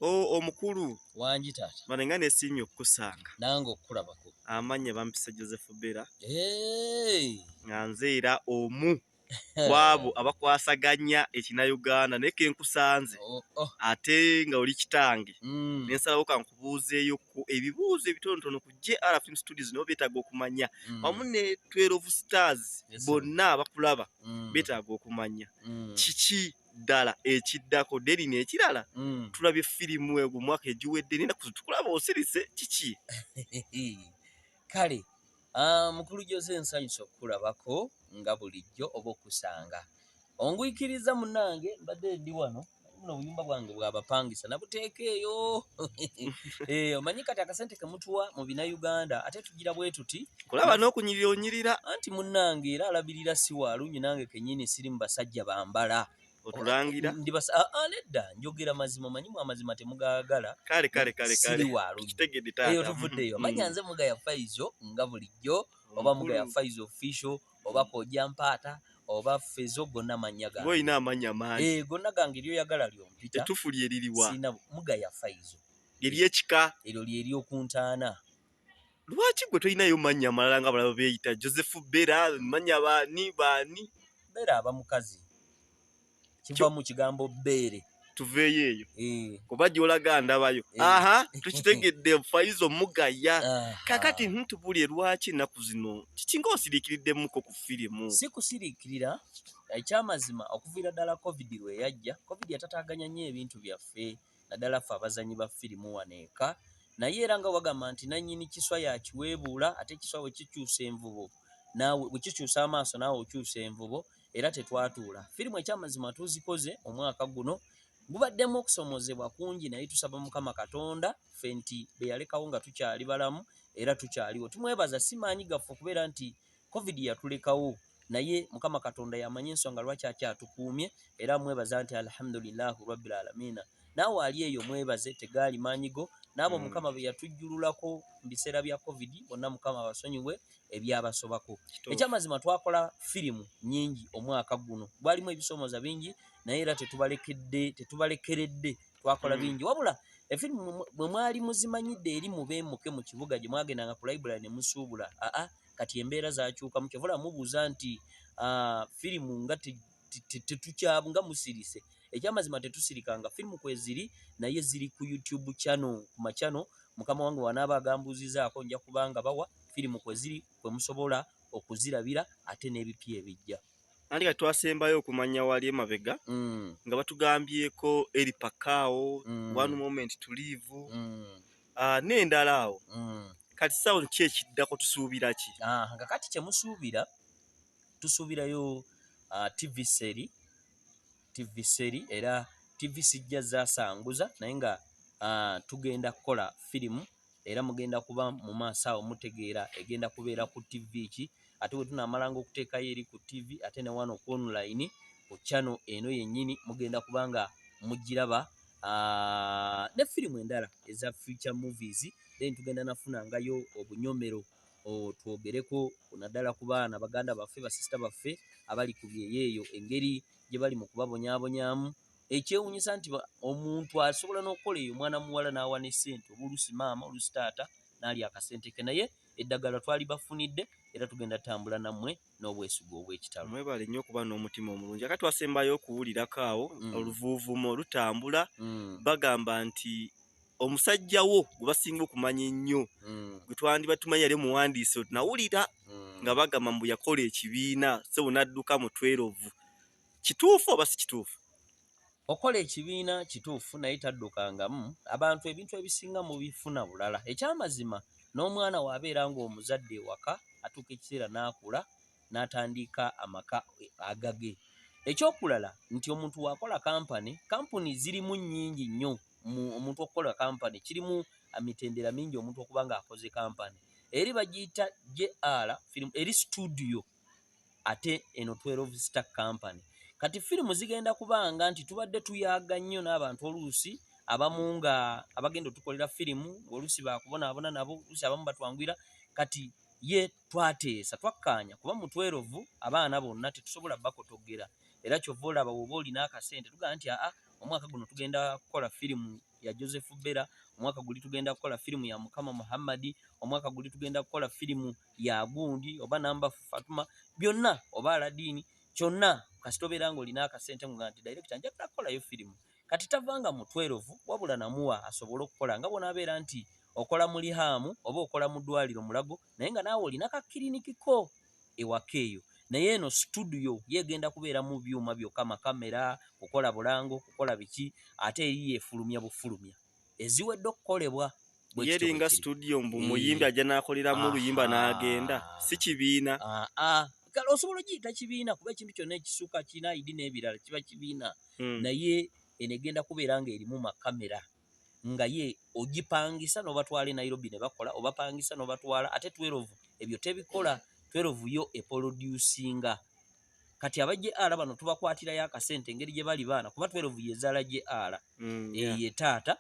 Oh, omukulu wangi taata bane nga nesiimye okukusanga nange okukulabako amanya bampisa joseph bera hey. nga nze era omu kwabo abakwasaganya ekina uganda naye kenkusanze oh, oh. ate nga oli kitange mm. nensalawo kankubuuzeeyo ku ebibuuzo ebitonotono ku jr film studios nabo betaaga okumanya mm. wamu ne twelove stars yes, bonna abakulaba mm. betaaga okumanya mm. kiki ddala ekiddako deri nekirala mm. tulabye firimu ego mwaka egiwedde nina kutukulaba osirise kiki kale ah, mukulu jose nsanyusa okukulabako nga bulijjo oba okusanga ongwikiriza munange mbadde ndi wano buno obuyumba bwange bwabapangisa nabuteeka eyo eh, omanyi kati akasente kemutuwa mu bina uganda ate tugira bwetuti kulaba n'okunyirira onyirira anti munnange era alabirira si waalungi nange kenyini siri mu basajja bambala otulangira ndi basa ah, ah, nedda njogera mazima manyimu amazima temugaagala kale kale kale kale waalungi eyo tuvuddeyo mm. manya nze muga ya faizo nga bulijjo oba muga ya faizo official oba koja mpaata oba fezo gonna mannya gange olina amanya mangi eh, gonna gange lyoyagala lyompita etufu lyeririwa sina muga ya faizo eryekika eryo lyeryokuntaana lwaki gwe tolinayo mannya amalala nga balaba beeyita joseph bera mannya baani baani bera aba mukazi kiva mu kigambo beere tuveeyo eyo eh. kuba gyolaga ndabayo eh. aha tukitegedde fayiza omugaya ah. kakati ntubulye lwaki ennaku zino kiki nga osiriikiriddemukko ku firimu si kusiriikirira ekyamazima okuviira ddala covid lwe yajja covid yatataaganya nnyo ebintu byaffe naddala ffe abazannyi ba firimu wano eka naye era nga wagamba nti nannyini kiswa y'akiweebuula ate ekiswa bwe kikyusa envubo naawe bwe kikyusa amaaso naawe okyusa envubo era tetwatuula firimu ekyamazima tuzikoze omwaka guno gubaddemu okusomozebwa kungi naye tusaba mukama katonda ffe nti beyalekawo nga tukyali balamu era tukyaliwo tumwebaza si maanyi gaffe okubeera nti Covid yatulekawo naye mukama katonda yamanyi ensonga lwaki akyatukuumye era mwebaza nti alhamdulilah rabbil alamina naawe ali eyo mwebaze tegaali maanyi go naabo mm. mukama beyatujjululako mu biseera bya covid bonna mukama abasonyiwe ebyabasobako ekyamazima twakola firimu nyingi omwaka guno gwalimu ebisoomoza bingi naye era tetubalekedde tetubalekeredde twakola mm. bingi wabula efirimu mwe mwali muzimanyidde eri mubeemuke mu kibuga gye mwagendanga ku library ne musuubula aa kati embeera zakyukamu kyova olaba mubuuza nti ah, firimu nga tetukyabu nga musirise ekyamazima tetusirikanga firimu kweziri naye ziri ku youtube channel ku machano mukama wange wanaaba agambuuzizaako nja kubanga bawa firimu kweziri kwemusobola okuzirabira ate n'ebipya ebijja andi kati twasembayo okumanya wali emabega mm. nga batugambyeko eri pakaawo mm. one moment tuliivu mm. Ah, n'endala awo mm. kati sawo ki ekiddako tusuubira ki ah, nga kati kyemusuubira tusuubirayo ah, tv seri tv seri era tv sijja zasanguza naye nga tugenda kukola firimu era mugenda kuba mu maaso awo mutegeera egenda kubeera ku tv ki ate bwe tunaamalanga okuteekayo eri ku ttivi ate ne wano ku online ku channel eno yennyini mugenda kuba nga mugiraba ah, ne firimu endala eza future movies then tugenda nafunangayo obunyomero twogereko naddala ku baana baganda baffe basisita baffe abali ku byeyo eyo engeri gye bali mu kubabonyaabonyamu ekyewunyisa nti omuntu asobola n'okukola eyo omwana muwala n'awa ne ssente oba oluusi maama oluusi taata n'ali akasente ke naye eddagala twalibafunidde era tugenda tambula nammwe n'obwesigwa obw'ekitalo. Mwebale nnyo okuba n'omutima omulungi. Aka twasembayo okuwulirako awo mm. oluvuuvumo lutambula mm. bagamba nti omusajja wo gwe basinga okumanya ennyo mm. gwe twandiba tumanyi yali omuwandiisi otunawulira mm. nga bagamba mbu yakola ekibiina sebo n'adduka mu twerovu kituufu oba si kituufu okola ekibiina kituufu naye taddukangamu abantu ebintu ebisinga mu bifuna bulala ekyamazima n'omwana waabeera ng'omuzadde ewaka atuuka ekiseera n'akula n'atandiika amaka agage ekyokulala nti omuntu waakola kampani kampuni zirimu nnyingi nnyo omuntu okukola kampani kirimu mitendera mingi omuntu okuba ng'akoze kampani eri bagiyita jr eri situdiyo ate eno 12 star company kati firimu zigenda kubanga nti tubadde tuyaga nnyo n'abantu oluusi abamu nga abagenda otukolera firimu oluusi bakubonaabona nabo luusi abamu batwangwira kati ye twateesa twakkaanya kuba mu 12 abaana bonna tetusobola bakotogera era kyova olaba woba olina akasente tugaa nti aa omwaka guno tugenda kukola firimu ya joseph bera omwaka guli tugenda kukola firimu ya mukama muhammadi omwaka guli tugenda kukola firimu ya ya gundi oba namba fatuma byonna oba aladiini kyonna kasita obeera ng'olina akasente nga nti direkita njagala kukolayo firimu kati tavanga mu twerovu wabula namuwa asobole okukola nga bwonaabeera nti okola mu lihaamu oba okola mu ddwaliro mulago naye nga naawe olina ka kiriniki ko ewaka eyo naye eno situdiyo yegenda kubeera mu byuma byokka makamera kukola bulango kukola biki ate eri yefulumya bufulumya eziwedde okukolebwa yeringa studio mbu muyimbi ajja nakoleramu oluyimba n'agenda si kibiina kale osobola ogiyita kibiina kuba ekintu kyonna ekisuka kirina idi n'ebirala kiba kibiina hmm. naye eno egenda kubeera nga erimu makamera nga ye ogipangisa n'obatwala e nairobi ne bakola obapangisa n'obatwala ate twerovu ebyo tebikola twerovu yo epolodusinga kati aba jr bano tubakwatirayo akasente engeri gye bali baana kuba 12 yezaala jr mm, eyo ye taata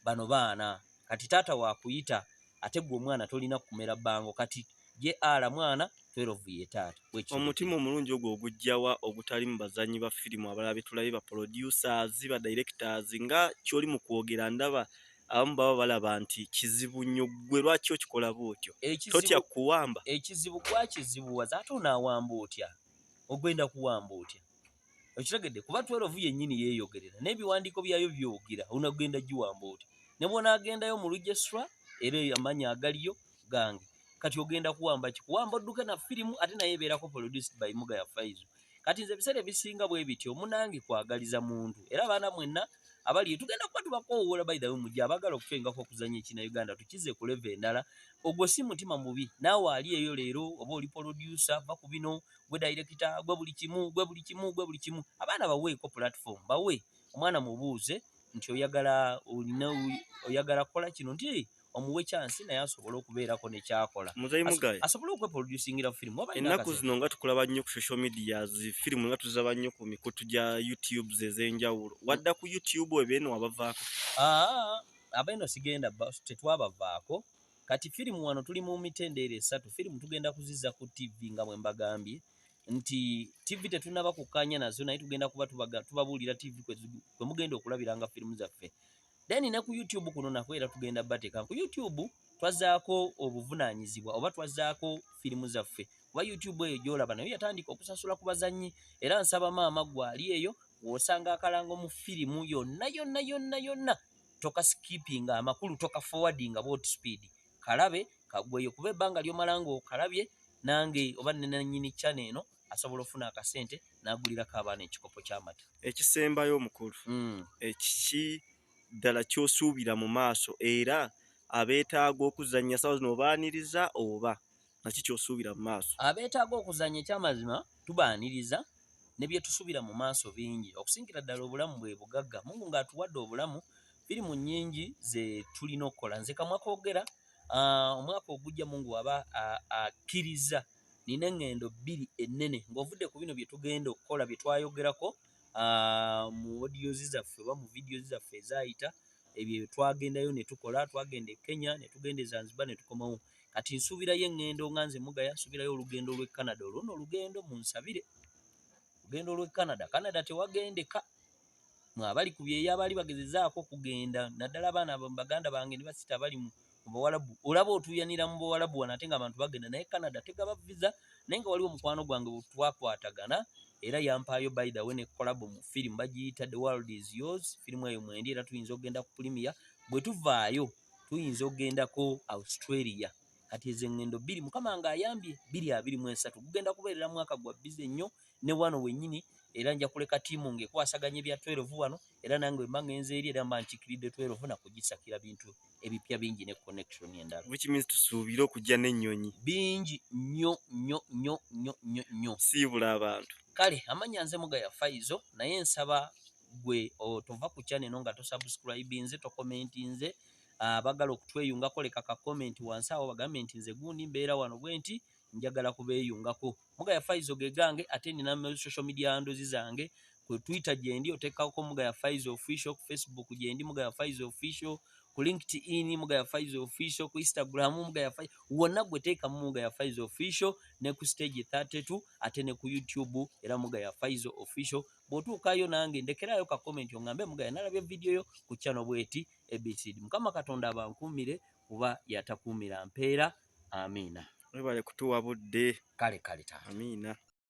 bano baana kati taata wakuyita ate gwe omwana tolina kumera bango kati jr mwana 12 ye taata omutima omulungi ogwo ogujjawa ogutali mu bazanyi ba firimu abalala betulabe ba producers ba directors nga kyoli mu kwogera ndaba abamu baba balaba nti kizibu nnyo ggwe lwaki okikola bwotyo totya kuwamba ekizibu gwakizibuwaza ate onaawamba otya ogwenda kuwamba otya okitegedde kuba twerovu yennyini yeeyogerera n'ebiwandiiko byayo byogera onagenda giwamba otya ne bwonaagendayo mu lujesra era amaanyi agaliyo gange kati ogenda kuwamba kikuwamba odduke na firimu ate naye ebeerako produced by mugaya faizo kati nze ebiseera ebisinga bwe bityo munange kwagaliza muntu era abaana mwenna abaliyo tugenda kuba tubakoowoola by the way mujja abagala okufengako okuzanya ekina uganda tukize ku leve endala ogwo si mutima mubi naawe ali eyo leero oba oli polodyusa va ku bino gwe dayirekita gwe buli kimu gwe buli kimu gwe buli kimu abaana baweeko platform bawe omwana mubuuze nti oyagala olina oyagala kukola kino nti omuwe chance naye asobole okubeerako ne kyakola muzeyi mugaye asobole okwe producingira film waba ennaku zino nga tukulaba nnyo ku social media zi film nga tuzaba nnyo ku mikutu gya youtube zezenjawulo wadda ku youtube ebeeno wabavaako aa abeeno sigenda tetwabavaako kati film wano tuli mu mitendeero esatu film tugenda kuziza ku tv nga bwe mbagambye nti tv tetunaba kukkaanya nazo naye tugenda kuba tubabuulira tv kwe mugenda okulabiranga firimu zaffe then ne ku youtube kuno nakwo era tugenda bateka ku youtube twazaako obuvunaanyizibwa oba twazaako firimu zaffe kuba youtube eyo gyolaba nayo yatandika okusasula ku bazannyi era nsaba maama gwali eyo wosanga akalango mu firimu yonna yonna yonna yonna tokaskipinga amakulu tokafowardi nga bot speed kalabe kagweyo kuba ebbanga lyomalanga okalabye nange oba nenanyini chane eno asobola ofuna akasente nagulirako abaana ekikopo kyamata ekisembayo omukulu mm. ekiki ddala kyosuubira mu maaso era abeetaaga okuzannya sawa zino obaaniriza oba naki kyosuubira mu maaso abeetaaga okuzannya ekyamazima tubaaniriza ne byetusuubira mu maaso bingi okusingira ddala obulamu bwe bugagga mungu ng'atuwadde obulamu biri mu nnyingi ze tulina okukola nze kamwa kogera ah, omwaka ogujja mungu waba akkirizza Nina engendo bbiri ennene ng'ovudde ku bino bye tugenda okukola bye twayogerako mu odiozi zaffe oba mu vidiyozi zaffe ezaayita ebyo twagendayo ne tukola twagenda e Kenya ne tugenda e Zanzibar ne tukomawo kati nsuubirayo engendo nga nze mugaya nsuubirayo olugendo lw'e Canada olwo no olugendo munsabire olugendo lw'e Canada Canada tewagendeka mu abali ku byeyo abaali bagezezaako okugenda naddala abaana baganda bange ne basita abali mu bawalabu olaba otuuyanira mu bawalabu wano ate nga abantu bagenda naye canada tegaba viza naye nga waliwo omukwano gwange bwetwakwatagana era yampaayo by the way ne kolabo mu firimu bagiyita the world is yours firimu eyo mwendi era tuyinza okugenda ku pulimiya bwe tuvaayo tuyinza okugendako australia kati ezo eŋŋendo bbiri mukama ng'ayambye bbiri abiri mu esatu gugenda kubeerera mwaka gwa bize nnyo ne wano wenyini era nja kuleka tiimu nga ekwasaganya ebya 12 wano era nange wemba ngenze eri era mba nkikiridde 12 na kugisakira bintu ebipya bingi ne connection endala which means tusuubire okujja n'ennyonyi bingi nnyo nnyo nnyo nnyo nnyo nnyo siibula abantu kale amanya nze mugaya faizo naye nsaba gwe tova ku channel eno nga tosubscribe nze tokomenti nze abagala ah, okutweyungako leka ka komenti wansi awo bagambe nti nze gundi mbeera wano bwe nti njagala kubeyungako mugaya faizo gegange ate nina mu social media ndozi zange ku twitter gyendi otekako mugaya faizo official ku facebook gyendi mugaya faizo official ku linkedin mugaya faizo official ku instagram mugaya faizo wonna gweteka mu mugaya faizo official ne ku stage 32 ate ne ku youtube era mugaya faizo official bwotuukayo nange ndekerayo ka comment ongambe mugaya nalabye video yo ku channel bweti abcd mukama katonda abankuumire kuba yatakuumira mpeera Amiina. Webale kutuwa budde. Kale kale taata. Amiina.